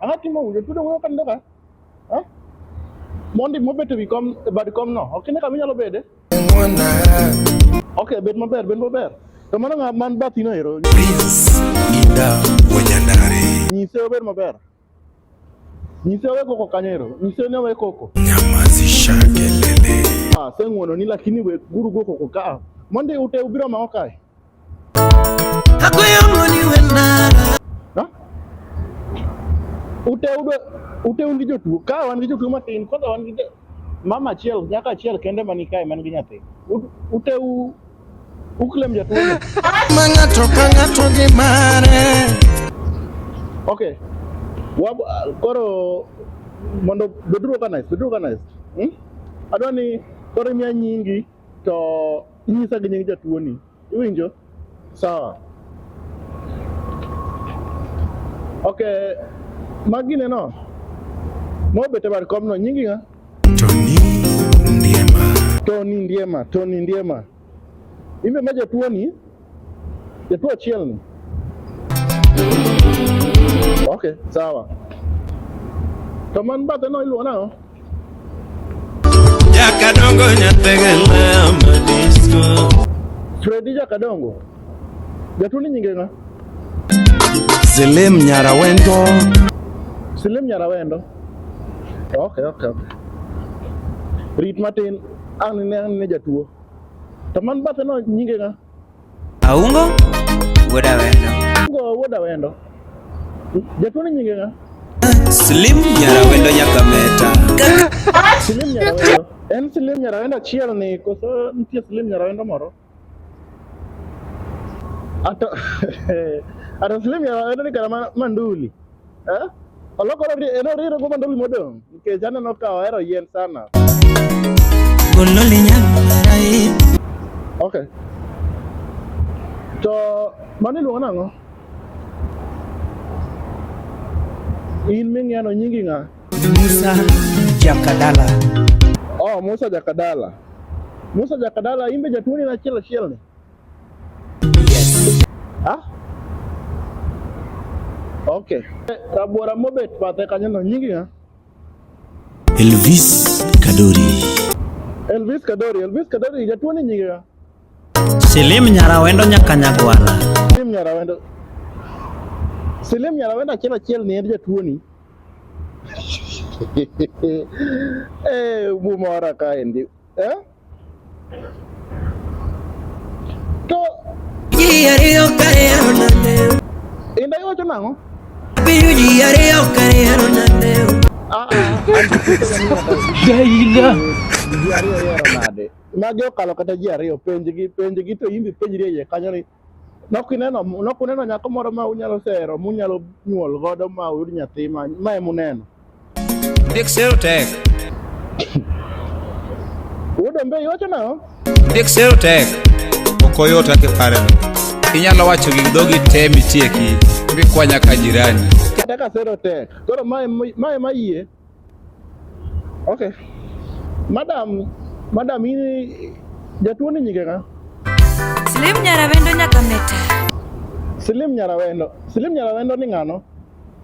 Ang'o timo wuyo tudo wuyo kan doka? Ha? Mondi mo beto wi kom e bad kom no. Ok ne kama inyalo bede. Ok, bed maber, bed maber. To mano ng'a man bathi no ero. Prince Inda Wanyandare. Nyise obed maber. Nyise owe koko kanyo ero. Nyise ne owe koko. Nyamazisha kelele. Ah, seng'wono ni lakini we guru go koko ka. Mondi ute ubiro ma okae. Uteudo uteun gi jotuo ka wan gi jotuo matin kwanza wan gi mama achiel nyaka achiel kende mani kae man gi nyathi uteu uklem jatuo ma ng'ato ka ng'ato gi mare okay wab koro mondo beduru organized beduru organized hmm? adwa ni koro imiya nyingi to inyisa gi nying jatuoni iwinjo sawa ok magi neno mobet e bad komno nyingi ng'a toni ndiema toni ndiema toni ndiema imbe ma jatuoni Jatuo achiel ni. Okay, sawa. To man bathe no iluwo nang'o? Jakadongo nyategela madisko. Fredi Jakadongo. Jatuo ni nyinge ng'a? Silim Nyarawendo. Silim Nyarawendo. Okay, okay, okay. Rit matin ang' ne ang' ne jatuo. To man bathe no nyinge ng'a? Aungo wuod Awendo. Aungo wuod Awendo. Jatuo ni nyinge ng'a? Slim Nyarawendo Nyakameta. Slim Nyarawendo. En Slim Nyarawendo achiel ni koso nitie Slim Nyarawendo moro? Ato, ato Slim Nyarawendo ni kara manduli. Eh? Olokore en oriro go mandoli modong nikech aneno ka ohero yien sana. Gololi nyamarai. Okay. To mano iluongo nang'o? In ming'eno nyingi ng'a? Musa Jakadala. Oh, Musa Jakadala. Musa Jakadala in be jatuoni en achiel achiel ni? Yes. Ah? Okay. Rabora mobet bathe kanyo no nyingi ha? Elvis Kadori. Elvis Kadori, Elvis Kadori jatuo ni nyingi ha? Silim Nyarawendo nyaka Nyagwala. Silim Nyarawendo. Silim Nyarawendo achiel achiel ni en jatuo ni. Eh, bumora kaendi. eh? to ji ariyo kariero nande inda iwacho nang'o apenjo ji ariyo kariero nande ah, ah. magi okalo kata ji ariyo penjgi penjgi to imbi penjri e iye kanyo ni Nokineno nokuneno nyako moro ma unyalo sero munyalo nyuol godo ma uyud nyathi ma ma em uneno. Ndik sero tek. Wuod Ombe iwacho nang'o? Ndik sero tek. Ok oyot kaka ipareno. Inyalo wacho gi dhogi te mitieki mikwanya ka jirani. Kata ka sero tek. Koro ma em- ma ema yie Okay. Madam, madam ini jatuo ni nyinge ng'a? Slim Nyarawendo nyaka meta. Slim Nyarawendo. Slim Nyarawendo ni ng'ano?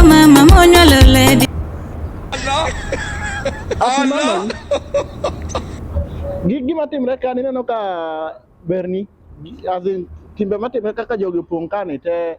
Mama monyalo lady. Allah. Allah. Gigi matimre ka nineno ka berni as in timbe matimre kaka jogi opong' kani te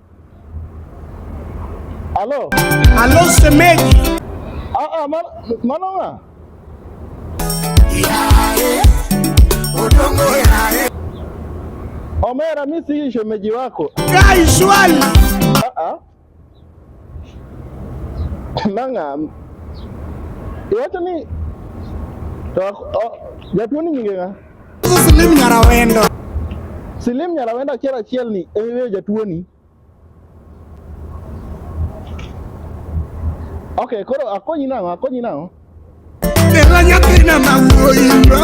Alo. Alo semeji. Aa, man, manona. Yae, odongo yae. Omera, mimi si shemeji wako. Kai swali. Aa. Nanga. Yote ni Jatuo ni nyinge nga? Silim Nyarawendo. Silim Nyarawendo achiel achiel ni ewe jatuoni. Okay, koro akonyi nang'o? Akonyi nang'o? Bella nyathina ma wuoyi bro.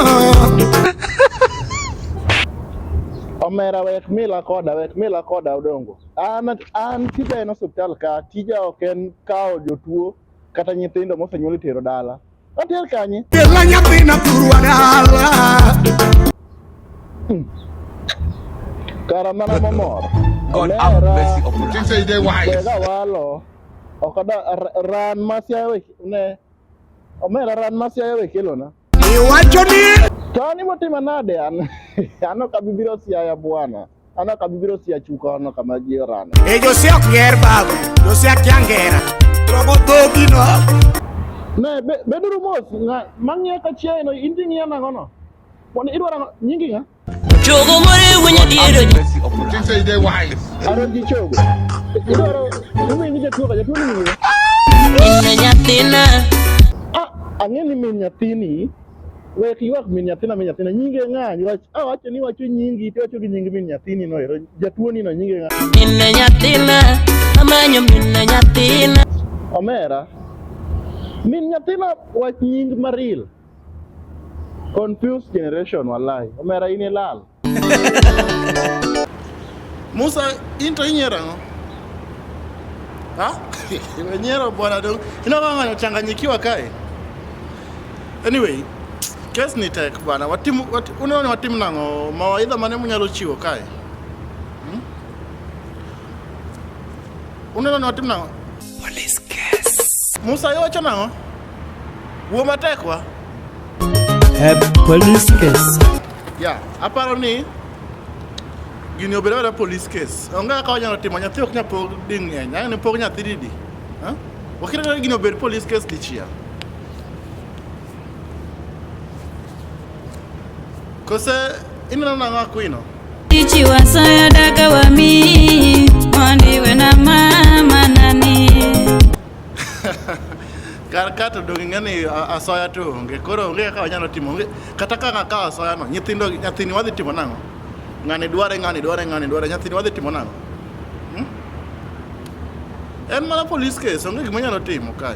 Omera wek mila koda, wek mila koda odongo. An an tija en osiptal ka, tija ok en kawo jotuo kata nyithindo mosenyuol itero dala. Otel kanye? Kela nyathina thurwa dala. Hmm. Kara mana mamor. God have mercy upon us. Say they wise. Kega walo. Okada ran masya we ne. Omera ran masya we kilo na. Iwacho ni. Tani motima nade an. Ano kabibiro siaya bwana. Ana kabibiro sia chuka ono kama jirani. E Josia ok ger babu, Josia kia ngera. Rogo dhogi no. Ne be- beduru mos ng'a- mang'iyo ka chiaye no in ting'iyo nang'o no? Mondo idwaro ang'o? nyingi ng'a? Chogo more winyo diero ji. Mercy of You think say you dey wise? Aro ji chogo. Idwaro umi ni jatuo ka jatuo ni ng'iyo. Inna nyathina. Ah, ang'e ni min nyathini Wek ywak min nyathina min nyathina nyinge ng'a wach ah wacho ni wacho nyingi to wacho gi nying min nyathini no ero jatuo ni no nyinge ng'a min nyathina amanyo min nyathina omera min nyathina wach nying maril confused generation wallahi omera in ilal Musa, into inyiero ang'o? Ha? Inyiero bwana dong. Ina kama anachanganyikiwa kae. Anyway, kes ni tek bwana. Watimu wat, unaona watimu nango mawaidha mane munyalo chiwo kae. Hmm? Unaona watimu nango Police case. Musa iwacho nang'o? Wuo matek wa. Eh, police case. Ya, aparo ni gini obedo mana police case. Onge kaka wanyalo timo nyathi ok nyal pog ding'eny. Ang'e ni pog nyathi didi. Ha? Wakira ni gini obed police case dichiel. Kose ineno nang'o akwino? kar ka to donge ng'ani asoya to onge koro onge kaka wanyalo timo onge kata ka ng'a kawo asoya no nyithindo nyathini wadhi timo nang'o ng'ani dware ng'ani dware ng'ani dware nyathini wadhi timo nang'o hmm? en mana police case onge gima nyalo timo kae